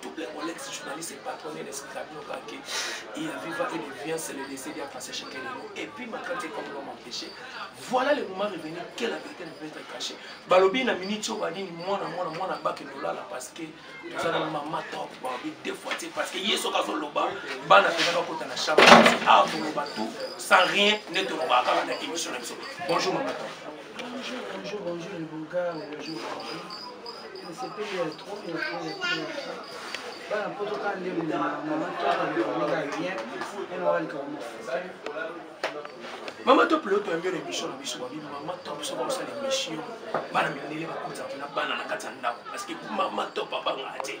Tout plein mon ex journaliste et patron de l'esprit Rabino Kake, il a viva et il vient, c'est le laisser bien passer chez quelqu'un. Et puis ma crainte est comme l'homme empêché. Voilà le moment revenu, quelle la vérité ne peut être cachée. Balobi na minute au badini, moi na moi na moi na bak et là parce que nous allons maman top, balobi deux fois, c'est parce que yeso kazo loba, bana pena kota na chapa, ah vous loba tout, sans rien, ne te loba kala na émission na biso. Bonjour maman top. Bonjour, bonjour, bonjour les beaux gars, bonjour, bonjour. Nasepeli ya trop ya trop ya trop ya trop. Bana poto kaka nde na mama toka lokola bien, ena walika wa mafuta. Mama top leo toyambi yo na émission na biso babi mama top soki osala émission bana mindele bakota kuna bana na kati ya ndako parce que mama top abangaka te.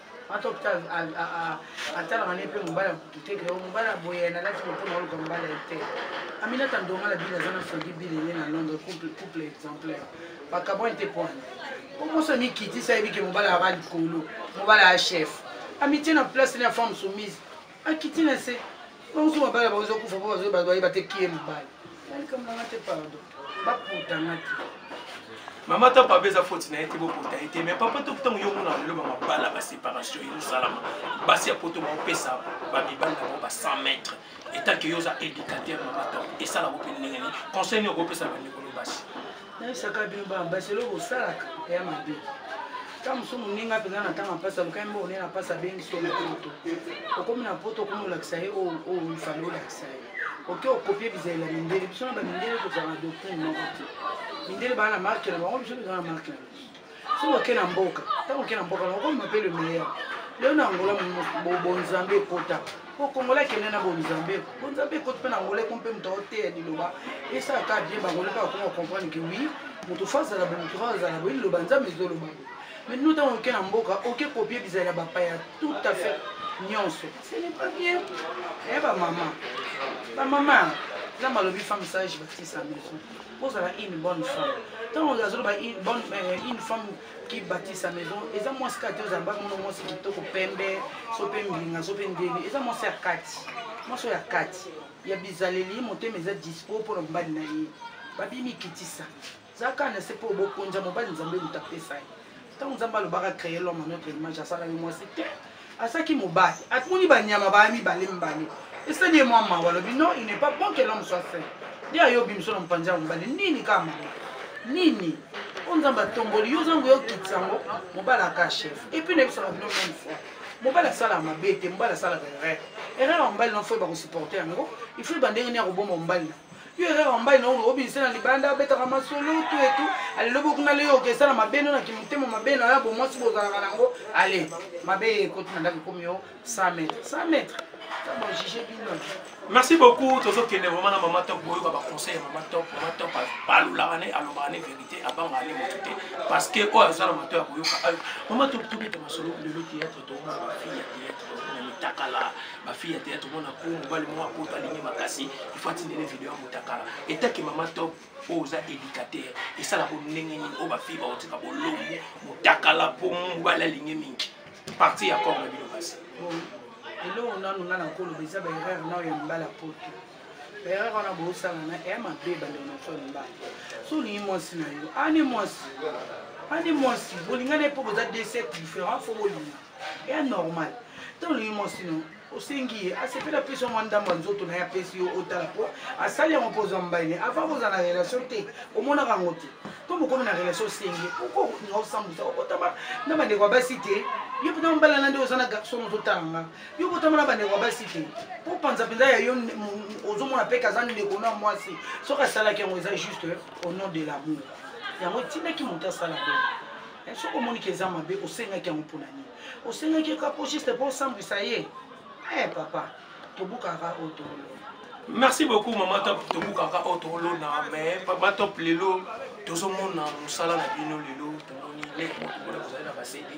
ata opita atalaka ne mpe mobali ya kutu te keo mobali aboye na lati mokona oluka mobali ya te aminata ndonga na bili aza na soki bili ye na londre couple exemplaire bakabwani te pwana omoso mikitisa yebi ke mobali aka likolo mobali ya chef amitie na place ne ya femme soumise akiti na se bango so mabala bango ezokufa mpo bazoyeba bayeba te kie mobali nalikambo nanga te pardon baputa nga te mama ta papa eza foti na ye te bokota ye te mais papa to ntango yo omona lelo bamabala baséparation ezosalama basi ya poto baopesa bamibali na bango ba 100 mètre etanke yo oza éducateur mama ta esalako mpe ndenge nini conseil nini okopesa bandeko no basi nayebisaka bino babasi eloko osalaka ya mabe ntango mosusu moninga mpenza na ntango apasi alukaki mbo onene apasi abengisi yo na poto okomi na poto okomi olakisa ye oyo oh, oh, ifale olakisa ye oke okopie bizalela mindele biso na bamindele tozala na doctrine moko te mindele baa na marke na bango biso tozala na marke na biso soki oke na mboka ntango oke na mboka na okomema mpe le meilleur lelo na angola bonzambe ekota po kongola akende na bonzambe bonzambe ekoti mpe na angola eko mpe moto aoteya liloba esala kaka bien bangola mpe bakoma comprendre ke wi moto fa azala bo moto fa azala bo liloba nzambe ezoloba bo mais no ntango oke na mboka oke kopie bizali ya bapaya tout à fait nyonso ce n'est pas bien eye eh, bamama bamama nzambe alobi femme sage batisa maison ozala une bonne femme ntango azoloba euh, une femme qui bâtit sa maison eza mwasi kaka te ozala bamono mwasi kitoko pembe so mpe mbilinga so mpe ndeni eza mwasi ya kati mwasi oyo ya kati ya bizaleli motema eza dispo mpo na mobali na ye babimikitisa zaka na se mpo obokonza mobali nzambe moto apesa ye ntango nzambe alobaka créer l'homme à notre image asalaki mwasi te asalaki mobali atumoni banyama baya mibale mibale esali ye mwa mawa alobi non il n'est pas bon que l'homme soit seul nde ayobi biso na mopanzi ya mobali nini kaka mama nini oyo nzambe atomboli yo ozango yokitisa yango mobali aka chef epuis nayebisaka bino meme fois mobali asalaka mabe te mobali asalaka erreur erreur ya mobali na fo ebakosupporte yango il faut ebandenge nini akoboma mobali na yo erreur wambai na oyo obimisa na libanda abetaka masolo tu etu alelobi okuna leyo okesa na mabe no na kimotema mabe na ya bomwasi bozalaka nango ale mabe ye ekoti na ndako ekomi yo 100 mètre 100 mètre tabojige bino merci beaucoup tozokende vraiment na mama top boyoka baconseil ya mama top mama top balulaka ne alobaka ne vérité abangaka ne moto te parce que oyo aza na mato ya koyoka ayo mama top tobeta masolo lelo théâtre tomona ba fille ya théâtre tomona mitakala ba fille ya théâtre tomona ko mobali moko akota alingi makasi ifo atindele video ya motakala etaki mama top oyo oza éducateur esalaka ndenge nini oyo ba fille bakotika bolombu motakala mpo mobali alingi mingi parti ya corps na bino kasi eloko nanu nga na koloba eza ba erreur nao ya libala poto erreur wana bosala na eya mabe ebanda na so mibale so olingi mwasi na yo ani mwasi ani mwasi bolinga na ye mpo boza deux sexe différent fo bolinga eya normal to olingi mwasi no osengi ye asepeli apesi yo mwa ndambo ya nzoto na ye apesi yo otala mpo asali yango mpo ozwa mobali ne avant kozala na relation te omonaka yango te to mokomi na relation osengi okokolinga osambusa okotama na bandeko ya basi te yo mpena mobalana nde oza na garçon ozotala nga yo botama na bandeko ya basi te mpo panza mpenza ya yo ozomona mpe kaza ndeko na mwasi soki asalaki yango eza juste au nom de l'amour yango etindaki moto asala boye eh, soki omoniki eza mabe osengaki yango mpona nini osengaki kaka mpo juste mpo osambwisa ye e papa tobukaka oyo tolona merci beaucoup mama top tobukaka oyo tolona mais papa top lelo tozomona mosala na bino lelo tomoni leki moto mpona kozali na basedi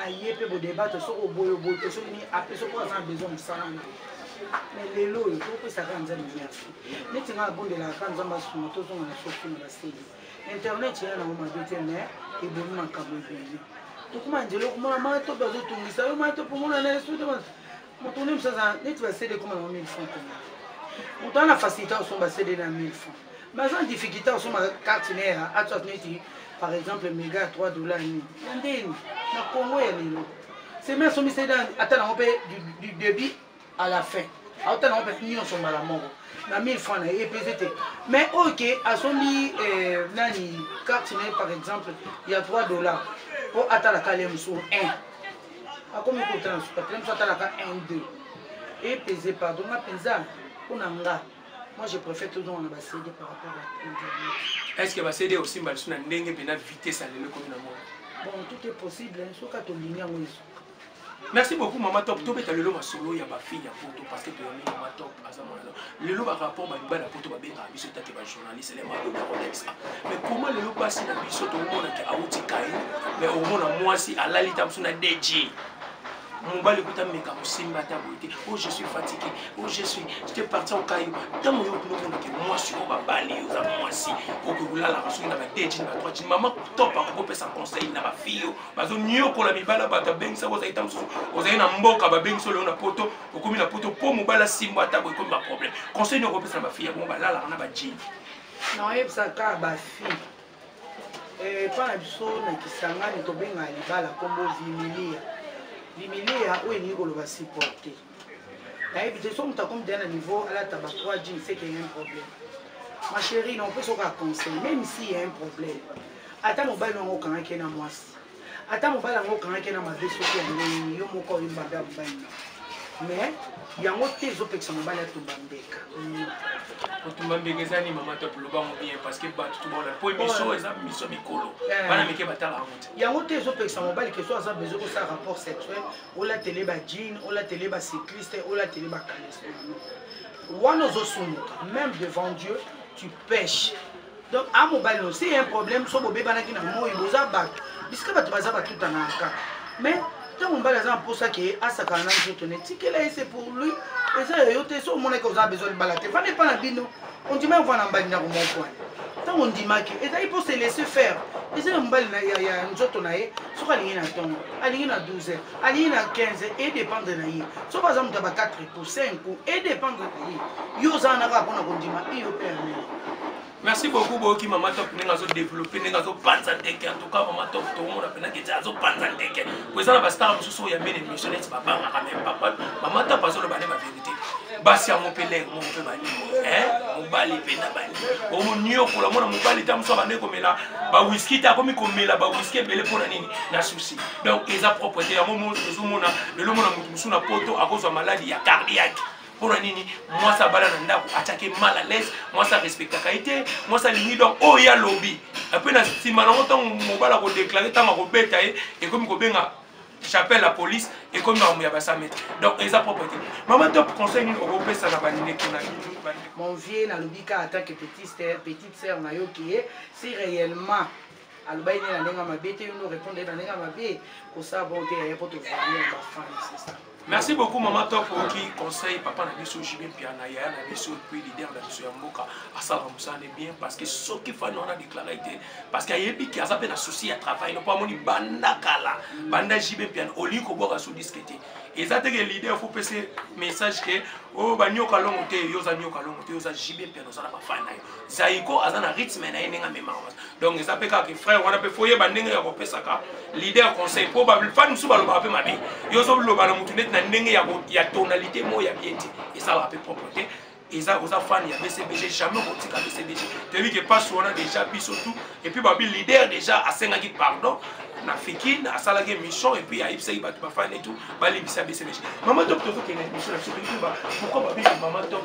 aye mpe bodebate soki oboyo bote soki nini ape soki aza na besoin mosala na mais lelo oyo topesaka nzambe merci neti ngai abondelaka ka nzambe asunga tozonga na soki na baseli internet eya nango mabe te mais ebomi makambo ebele tokoma nzela okomona matope azotungisa yo matope omona na esude moto nde mosusu aza neti basede ekoma nango 1000 franc koma moto ana facilité osomba sede na 1000 franc baza na difficulté osomba carte ne ya atswat neti par exemple mega ya 3 dollar nini ya ndeni na congo ya lelo semi asombi sede ata nango mpe du début à la fin auta nango mpe nyonso mbala moko na 1000 franc na ye epese te mais oyo ke asombi eh, nani carte na ye par exemple ya 3 dollar mpo atalaka le mosusu 1 akomi kotala na sukatela mosu atalaka 1 2 epese pardon nga mpenza mpo na nga moi je préfère tozonga na bacd par rapport à internet est ce que bacd osimba lisu na ndenge mpenza vitesse alelo ekomi na mona bon tout est possible soki atolingi yango esu merci beaucoup mama top tobeta lelo masolo ya bafille ya poto parce que toyambi mama top aza mwana lelo barapport bamibali ya poto babengaka biso tete bajournaliste le maloba kolekisa mais comment lelo basi na biso tomonake awuti kai mais omona mwasi alali ta mosu na dj mobali kuta meka kosimba ata boye te o oh, je suis fatigué o oh, je suis te parti okayo ntango yo kuna omonake mwasi oyo babali yo oza mwasi okoki kolalaka soki na badejini badroitini mama topa kokopesa conseil na bafille oyo bazoniokola mibala bato abengisa kozali ta mosusu ozali na mboka babengisa oleyo na poto okomi na poto mpo mobali asimbo ata boye ekomi baproblème conseil nini okopesa na bafille yango balalaka na bajini naoyebisaka bafille epa eh, na biso na kisangani tobengaka libala nkombo vimilia vimilia oyo elingi koloba supporte nayebi te so moto akomi deya na niveau alata ba 3 jean seke ya un problème ma chérie na opesa oka conseil même si ya un problème ata mobali wango okangaki ye na mwasi ata mobali yango okangaki na mabe soki ya ndenge yo moko oyebi mabe ya mobali na mais yango te ezopekisa mobali atumba mbeka kotumba mbeka eza nini mama top loba yango bien parce que bato tobona po émission eza miso mikolo eh. bana mike batala yango te yango te ezopekisa mobali keso aza besoin kosala rapport sexuel olatele ba jean olatele ba cycliste olatele ba kalesonano wana ozosumuka même devant dieu tu pêche donc a mobali no c'est un problème so bobebanaki na moi boza bato bisika bato baza batutana kaka mais ntango mobali aza na mposa ke asakana na nzoto ne tikela ye se pour lui eza ya yo te so omonaki oza besoin libala te fana epa na bino ondima yova na mbali ndako moko wana ntango ondimaki ezali mpo se laisse faire eza ya mobali ya nzoto na ye soki alingi na ntongo alingi na 12 heures alingi na 15 edépendre na ye soki aza moto ya ba 4 ko 5 ko edépendre na ye yo oza wana kaka mpona kondima iyo mpe amene merci beaucoup boyoki mama top ndenge azodeveloppe ndenge azopanza ndeke en tout cas mama top tomona mpena keti azopanza ndeke po eza na bastar mosusu oyo ya mene émission neti babangaka meme papa mama top azoloba nde baverité basi yango mpe lere moko mpe balingi mobali mpe na balingi omoniokola mwana mobali ta mosusu abandeki komela bawiski te akomi komela bawiski ebele mpo na nini na susi donc eza propre te yango mo tozomona lelo mona moto mosusu na poto akozwa maladi ya cardiaque mpo na nini mwasi abala na ndako atyaki mal à l'aise mwasi arespectaka ye te mwasi alingi donc oyo ye alobi mpe na nsima nango ntango mobali akodeklare ntango akobeta ye ekomi kobenga j'appelle la police ekomi makambo ya basamete donc eza propre te mama top conseil nini okopesa na bandeko na mon vieux nalobi ka attaque petite sœur na yo ke si réellement alobaki nde na ndenge ya mabe te yo nde orépondre ye na ndenge ya mabe kosala bongo te yaya mpo tozali ya bafani sesa merci beaucoup mama top oki conseil papa na biso jibe mpiana yaya na biso epuis leader na biso ya mboka asalaka mosala ne bien parce que soki fani wana déclare te parce que ayebi ke aza mpe na souci ya travail nopo amoni banda kala banda jibe mpiana olingi kobwaka so diske te eza te ke leader fo pese message ke o oh, banyoka longo te yo oza nyoka longo te yo oza jibe mpiana oza na bafani na yo zaiko aza na rythme na ye ndenge amemaka donc eza mpe kaka frère wana mpe fo yeba ndenge ya kopesaka leader conseil mpo bafani mosusu balobaka mpe mabe yo ozoloba na motu neti na ndenge ya tonalité moko ya bien te esalaka mpe propre te eza oza fan ya bcbg jamais okotika bcbg toyebi ke pasi wana déjà biso tout epuis babi leader déjà asengaki pardon na fikin asalaki émission epuis ayebisaki bato bafani etout balimbisa bcbg mama top tozokende émission na biso pourquoi babi mama top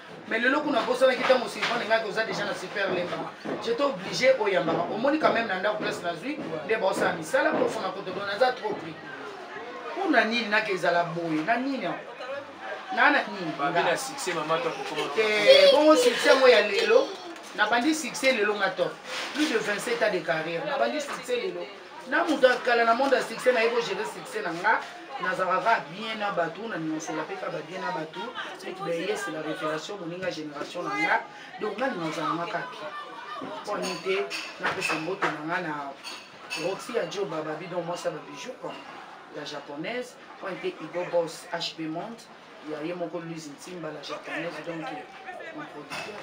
mais lelo kuna bosanaki ntango silvane ngaki oza déjà na super lemba jete oblige oyambaka omoni quand même na ndako place nazwi nde baosala misala profona kotodo naza trop pris mpo na nini naka ezala boye na nini yango naa na nini eh, bongo succès yango ya lelo nabandi succès lelo nga top plus de 27 ans de carrière nabandi succès lelo na moto ya kala na monde ya succès nayebi ogere succès na nga nazalaka kaka bien na bato naningasela mpe kaka babien na bato soki bayese la révélation moninga génération na nga donc nga ningasala nga kaka bien mpo ani te napesa mbote na nga na roxy ya jo bababi donc mwasi ya babijou ya japonaise mpo ani te igo bos hb monde ya ye moko lise ntimba la japonaise donc mon producteur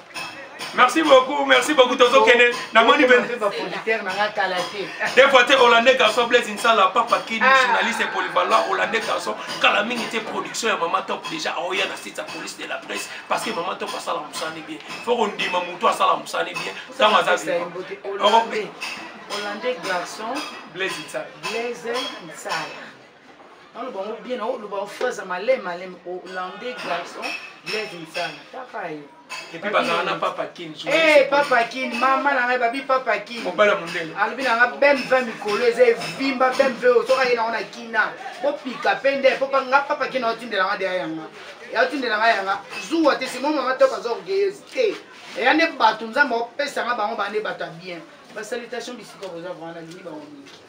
merci beaucoup merci beaucoup tozokende namoni des fois te hollandais garçon blaise nsala papa kini ah. journaliste polyvalent hollandais garçon kala mingi te production ya mama top déjà aoya na site ya police de la presse parce que mama top asala mosani bien fo kondima motu asala mosani bien ntango aza hollandais garçon blaise nsala nano bango bien na oloba ofraza malem malem olande garçon blaise nsana taka ye epuis bazala na papa kin eh, papa kin mama na ngai babi papa kin mobala mondele alobi na ngai bem ve mikolo eza evimba bem ve oyo soka ye nango na kina bopika mpe nde mpo nga papa kin aotindela nga deya yanga yaotindela nga yanga zuwa te simo mama top aza orgueilleuse te eya nde bato nzambe opesa nga bango baa nde bato ya bien basalitation bisika boza vrana lingi bango mingi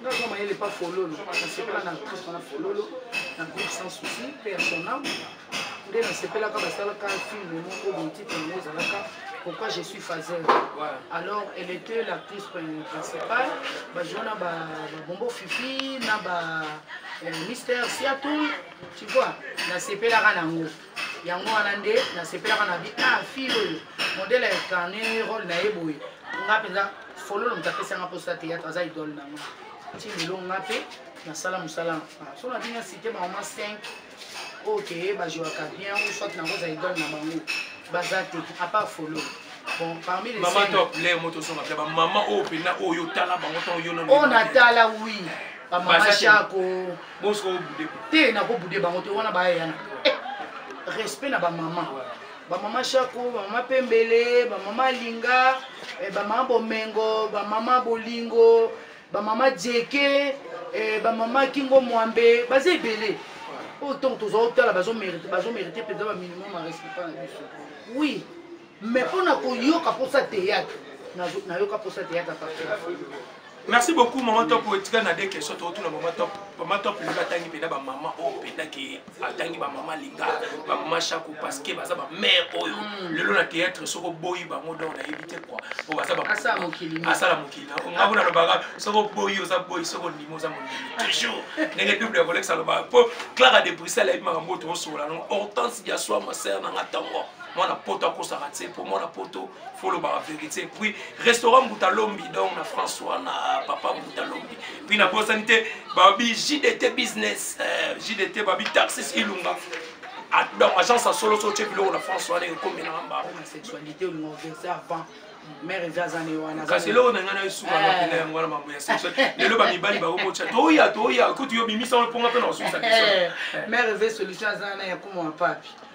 nga aza mayele pa fololo nasepela na actrice wana fololo na groupe sans souci mpe ya sonam nde nasepelaka basalaka filme moko botitre yango ezalaka pourquoi je suis fazer alors elle était l'actrice principale bajua na babombo fifi na ba euh, mister siatou tu vois nasepelaka nango yango wana nde nasepelaka na bi ah fille oyo modele incarne role na ye boye nga mpenza fololo moto apesi yanga mposa théâtre aza idole na nga ti lelo nga mpe nasala mosala ah, so na bino cité bamama 5 oyo keye bajouaka bien ou soit nakozala idole na bango baza te apart fololo bon parmi les mama top le moto osonga mpe bamama oyo mpenza oyo otala bango ntango yo oyo natala wi bamama shako bosko obude te nakobude bango te wana bayeyana eh, respect na bamama bamama shako bamama pembele bamama linga eh, bamama bomengo bamama bolingo bamama jeke eh, bamama kingo mwambe baza ebele oyo ntongo tozwa otala bazomerite mpenza baminimum ya respect na biso oui mais mpo na koyoka mposa teyatre nayoka mposa teyatre merci beaucoup maman top etika na de question tokotuna maman top maman top lelo atangi mpena bamama oyo mpena ke atangi bamama linga bamama shako parce que baza bamare oyo hmm. lelo na théâtre soko boyi bango donc nayebi te kua po baza asala mokili ngango nalobaka soko boyi oza boyi soko ndimi oza mondimi toujours ndenge bible ya kolekisa alobaka po clara de bruxelles ayebi makambo oyo tokosokola nango hortense diasoi maser nanga ntongo mwana poto akosaka te mpo mwana poto folobaka verité puis restaurant mbuta lombi donc na france wana papa mbuta lombi puis nabosani te babi jdt business euh, jdt babi taxis ilunga ah, donc agence ya solo so otye biloko na france wana ekomelaka mbakokasi eloko na ngai na esuka eh. napena yango wana mambo ya sexuel lelo bamibali bakobotya toya toya kutu yo bimisa wana mponga mpe na kosukisa eh. mare eve solution aza na ya komona papi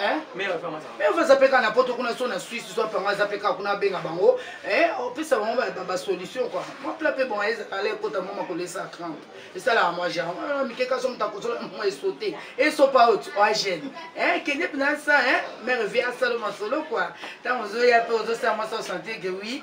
Eh? mère aza mpe kaka na poto kuna so na swisse so apanga aza mpe kaka kuna abenga bango eh, opesa bango basolution kua mwa pla mpe bonga ezala ekota mwa makolesa 30 esalaka mwa genre ah, mikeka so moto akozola mwa esote esopa oti oagene eh, kende mpena sa mère vie asala masolo kua ntango ozoya mpe ozosala mwa sa osanteke wi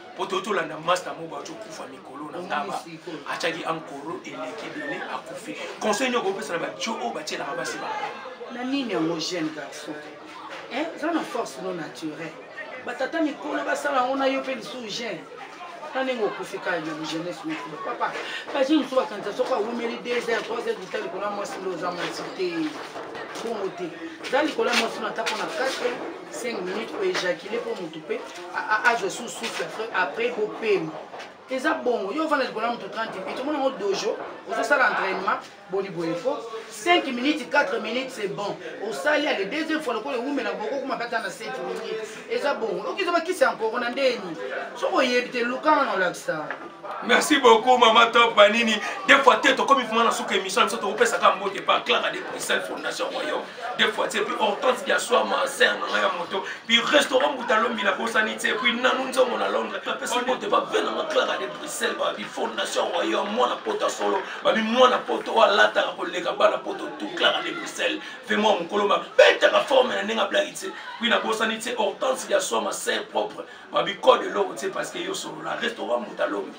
po toyo tolanda masta moko baoki okufa mikolo na ngaba atyaki ankoro eleki ebele akufi conseil nini okopesa na bajo oyo batyelaka basi ba na nini yango jeune garçon eza eh, na force no naturel batata mikolo basala yango na yo mpe lisusu jeune na ndenge okufi kaka na jeunesse mikolo papa baje mosusu bakanisa soki awumeli 2 heures 3 heures dita likolo ya mwasi nde oza mwasi te bongo te za likolo ya mwasi no ata mpo na 4 5 minutes oejakile mpo motu mpe azwa su souffle après bopema eza bongo yo ovanda likolo ya moto 30 minutes omona yango dojo ozosala entraînement boni boye po 5 minutes 4 minutes c'est bon osali ale deuxième fois lokola ewumela boko kuma bata na 7 minutes eza bongo okiza bakisi ya nkoko na ndeni soki oyebi te lukanga na olakisa merci beaucoup mama top banini des fois te tokomi vraimen na suka émission na biso tokopesaka mbote pa claka de bruxelles fondation royaume des fois c'est puis hortense ya soir ma sœur na ngai ya moto puis restaurant butalombi nabosani te puis nanu nzongo na londres napesi mbote babe na nga clara de bruxelles babi fondation royaume mwana poto solo babi mwana poto oyo alataka koleka bana poto tout clara de bruxelles ve mwa mokolo mabetaka forme na ndenge ablaki te puis nabosani te hortense ya soir ma sœur propre babi code eloko te parce que yo solola restaurant butalombi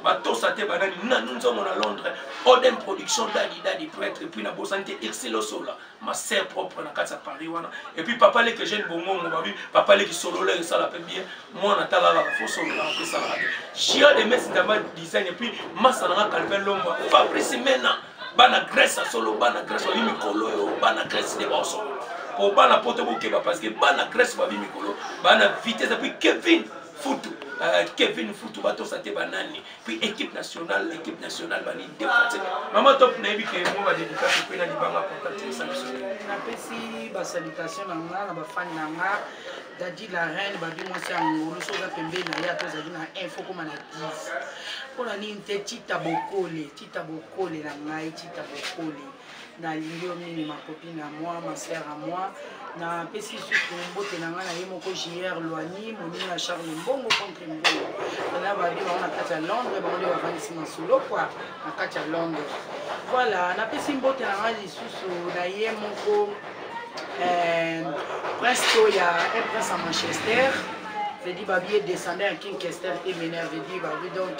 batosa te banani nanu nzongo na londres odem production dadi dadi prêtre epuis na bosani te irsilosola ma sœur propre na kati ya paris wana epuis papa leke jeune bongongo babi papa leki solola esala mpe bien mwana talalaka fo solola mpe esalaka te gia de mes ndamba design epuis masa nanga calvin lomba fabrice mena bana grèce ya solo bana grèce babi mikolo oyo bana grèce nde baosolola mpo bana poto bokeba parce que bana grèce babi mikolo bana vitesse epuis kevin futu euh, kevin futu batosa te banani puis équipe nationale équipe nationale bani défense mama top nayebi ke mo badédicace mpe na libanga portate esa biso napesi basalutation na nga na bafani na nga dadi la reine babi mwasi ya ngolu soki oza pembeni na ye ata ozali na info koma na 10 mpo na nini te tita bokole tita bokole na ngai tita bokole nalingi yo mingi makopi na moi masere a moi napesi susu mbote na ngai na ye moko jr loigny monini ya charle mbongo contre mbongo na babi bango na kati ya londres bango nde bavandisi masolo kua na kati ya londres voilà napesi mbote na ngai lisusu na ye moko eh, prince to ya un prince ya manchester vedi babi edescendant ya king kester emener vedi babi donc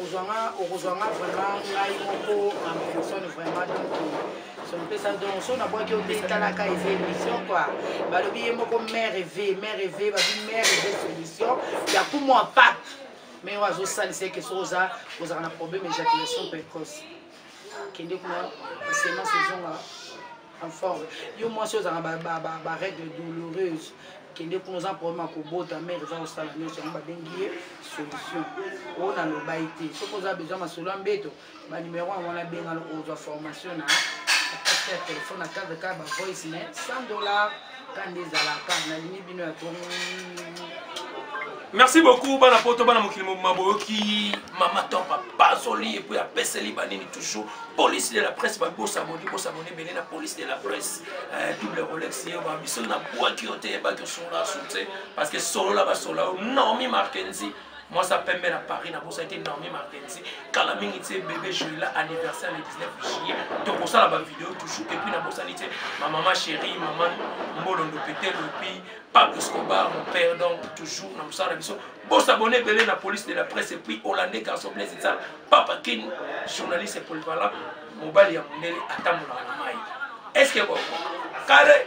ozwanga okozwanga vraiment ngai moko en personne vraiment donc sonipesa donc so nabwaki yo te talaka eza émission kua balobi ye moko mare eve mare eve babi mare eve solution ya kumwa pap mai oyo azosalisa eke soki oza ozalaka na problème ejaculation précoce kende kuna semence ezonga en forme yo mwasi ozanga barègle douloureuse kende kuna oza problème ya kobota mare eza kosala nyonso yango babengi ye solution oyo nalobaki te soki oza besoin masolo ya mbeto banimero yango wana bengana ozwa formation na ya telefone na cadre kaka bavoice mais 100 dollar kanda ezalaka nalingi bino ya trop merci beaucoup bana poto bana mokili mobima boyoki mama top apasoli epuis apeseli banini toujours police de la presse babosaboni bosaboni ebele na police de la presse eh, double rolex ye ba biso na bwaki yo te yebaki osola su te parce que solola basola yo normi markenzi mwasi ya pembe na paris nabosaki te normi martensi kala mingi te bebe joila anniversaire le 19 juillet tokosala bavideo toujours epuis nabosani te mamama chéri mama mbolondo petel epuis pap escobar mon père donc toujours na mosala na biso bosabone ebele na police de la presse epuis hollandais garçon blaise etsala papa kin journaliste polyvalent mobali ya mondele atambolaka na mai est ce que boko kale